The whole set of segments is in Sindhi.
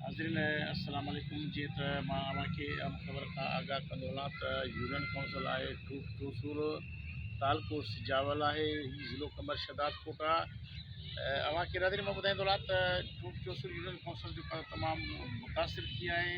ناظرين السلام عليڪم جيئن ته مان اوهان کي مختصر کان آگاهه ڪندو هلان ته يونين ڪائونسل آهي ٽوسور تعلقو سجاول آهي هي ضلعو قمر شهداد ڪوٽ آهي اوهان کي ناظرين مان ٻڌائيندو هلان ته ٽوسور يونين ڪائونسل جو تمام متاثر ٿي آهي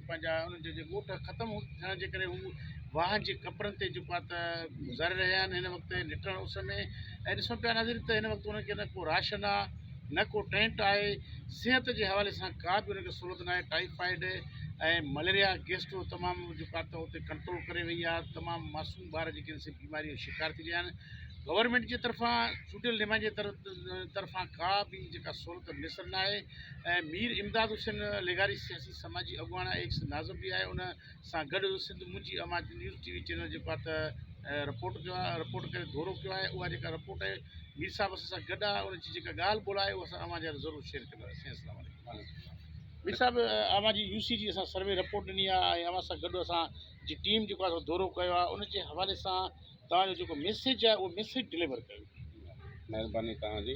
پنهنجا انهن جا جي ڳوٺ ختم ٿيڻ جي ڪري هو واهن جي ڪپرن تي جيڪو آهي ته گذاري رهيا آهن هن وقت نٽڻ اس ۾ ۽ ڏسون پيا ناظرين ته هن وقت انهن کي نه ڪو راشن آهي نه ڪو ٽينٽ آهي صحت جي حوالي سان ڪا به ان کي سهولت ناهي ٽائيفائيڊ ۽ مليريا گيسٽرو تمام جيڪو آهي ته اتي ڪنٽرول ڪري وئي آهي تمام معصوم ٻار جيڪي آهن سي بيماري جو شڪار ٿي رهيا آهن گورنمنٽ جي طرفان چونڊيل نمائندي طرفان ڪا به جيڪا سهولت ميسر ناهي ۽ مير امداد حسين لغاري سياسي سماجي اڳواڻ ۽ ايڪس ناظم به آهي ان سان گڏ سنڌ منهنجي آواز جي نيوز ٽي وي چينل جيڪو آهي ته رپورٽ ڪيو آهي رپورٽ ڪري دورو ڪيو آهي اها جيڪا رپورٽ آهي مير صاحب اسان سان گڏ آهي ان جي جيڪا ڳالهه ٻولهه آهي اها اسان اوهان جي ضرور شيئر ڪنداسين السلام عليڪم مير صاحب اوهان جي يو سي جي اسان سروي رپورٽ ڏني آهي ۽ اوهان سان گڏ اسان جي ٽيم جيڪو آهي دورو ڪيو آهي ان جي حوالي سان توهان جو جيڪو ميسيج آهي اهو ميسيج ڊليور ڪيو مهرباني توهان جي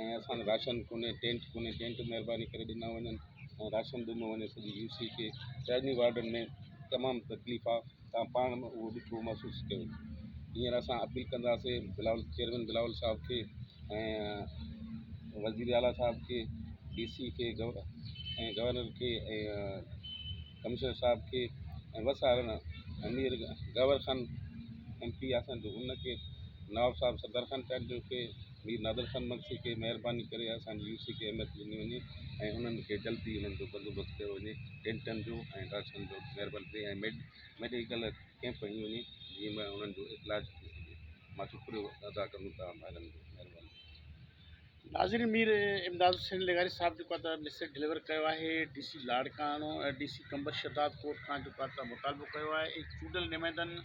۽ اسان کي راشن ڪونهي ٽينٽ ڪونهي ٽينٽ مهرباني ڪري ڏنا وڃن ۽ راشن ڏنو وڃي سڄي يو سي کي پهرين وارڊن ۾ تمام تڪليف آ تان پاڻ به اهو ڏکيو محسوس ڪيو هينئر اسان اپيل ڪنداسي بلاول چيئرمين بلاول صاحب کي ۽ وزير اعليٰ صاحب کي ڊي سي کي ۽ گورنر کي ۽ ڪمشنر صاحب کي ۽ بس هارن امير گور خان ايم پي اسان جو ان کي نواب صاحب صدر خان چانڊيو کي مير نادر خان مگسي کي مهرباني ڪري اسان جي يو سي کي اهميت ڏني وڃي ۽ انهن کي جلدي انهن جو بندوبست ڪيو وڃي ٽينٽن جو ۽ راشن جو مهرباني ڪري ۽ ميڊ ميڊيڪل ڪيمپ هنئي وڃي جنهن ۾ انهن جو علاج ٿي سگهي مان شڪريو ادا ڪرون توهان ڀائرن جو مهرباني ناظرين مير امداد حسين لغاري صاحب جيڪو آتا ميسج ڊليور ڪيو آهي D C Larkana ۽ D C Qambar Shahdad Kot کان جيڪو آتا مطالبو ڪيو آهي اي چونڊيل نمائندن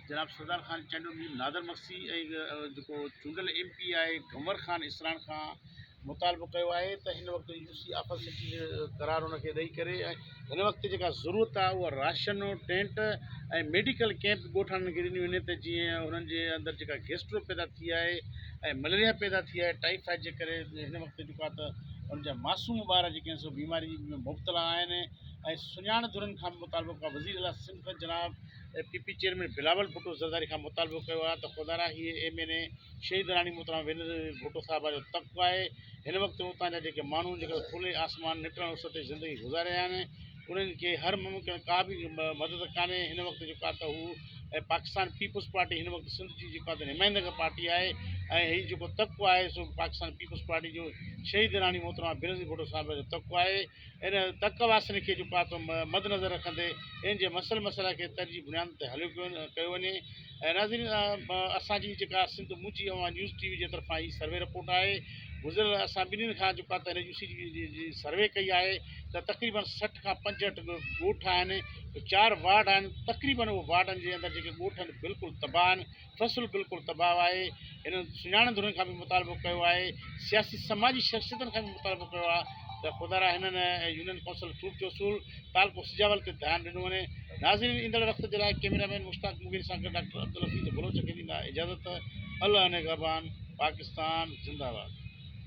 جناب سردار خان چانڊيو مير نادر مگسي ۽ جيڪو چونڊيل M P A Ghamar Khan Isran کان مطالبو ڪيو آهي ته هن وقت يو سي آفت سٽي جو قرار ان کي ڏئي ڪري هن وقت جيڪا ضرورت آهي اها راشن ٽينٽ ۽ ميڊيڪل ڪيمپ ڳوٺ وارن کي ڏنيون وڃي ته جيئن انهن جي اندر جيڪا گيسٽرو پيدا ٿي آهي ۽ مليريا پيدا ٿي آهي ٽائيفائيڊ جي ڪري هن وقت جيڪو آهي ته ان جا معصوم ٻار جيڪي آهن سو بيماري ۾ مبتلا آهن ۽ سڃاڻ ڌرين کان مطالبو ڪيو وزير اعليٰ سنڌ جناب A P P chairman Bilawal Bhutto Zardari کان مطالبو ڪيو آهي ته خدارا هي ايم اين اي شهيد راڻي محترمه ويندر ڀٽو صاحبه جو طبقو آهي هن وقت اتان جا جيڪي ماڻهو جيڪي کلي آسمان نٽڻ اس تي زندگي گذاري رهيا آهن انهن کي هر ممڪن ڪا به مدد ڪانهي هن وقت جيڪو آهي ته هو ۽ پاڪستان پيپلز پارٽي هن وقت سنڌ جي جيڪو آهي نمائندگي پارٽي آهي ۽ هي جيڪو طبقو آهي سو پاڪستان پيپلز پارٽي جو شهيد راڻي محترمه بينظير ڀٽو صاحبه جو طبقو آهي ان تڪ واسين کي چڪا ٿو مدنظر رکندي ان جي مسئل مسئلا کي ترجيحي بنيادن تي حل ڪيو وڃي ۽ ناظرين اسان جي جيڪا سنڌ منهنجي اوهان نيوز ٽي وي جي طرفان هي سروي رپورٽ آهي گذريل اسان ٻنهين کان جيڪا ته ريڊيو سي جي سروي ڪئي آهي ته تقريبن سٺ کان پنجهٺ ڳوٺ آهن چار وارڊ آهن تقريبن وارڊن جي اندر جيڪي ڳوٺ آهن بلڪل تباهه آهن فصل بلڪل تباهه آهي هنن سڃاڻن ڌرين کان به مطالبو ڪيو آهي سياسي سماجي شخصيتن کان به مطالبو ڪيو آهي ته خدا را هنن يونين ڪونسل ٽوٽ جو اصول تعلقو سجاول تي ڌيان ڏنو وڃي ناظرين ايندڙ وقت جي لاء ڪيميرا مين مشتاق مغيري سان گڏ ڊاڪٽر عبدالحفيظ بلوچ کي ڏيندا اجازت الله نگهبان پاڪستان زنده باد.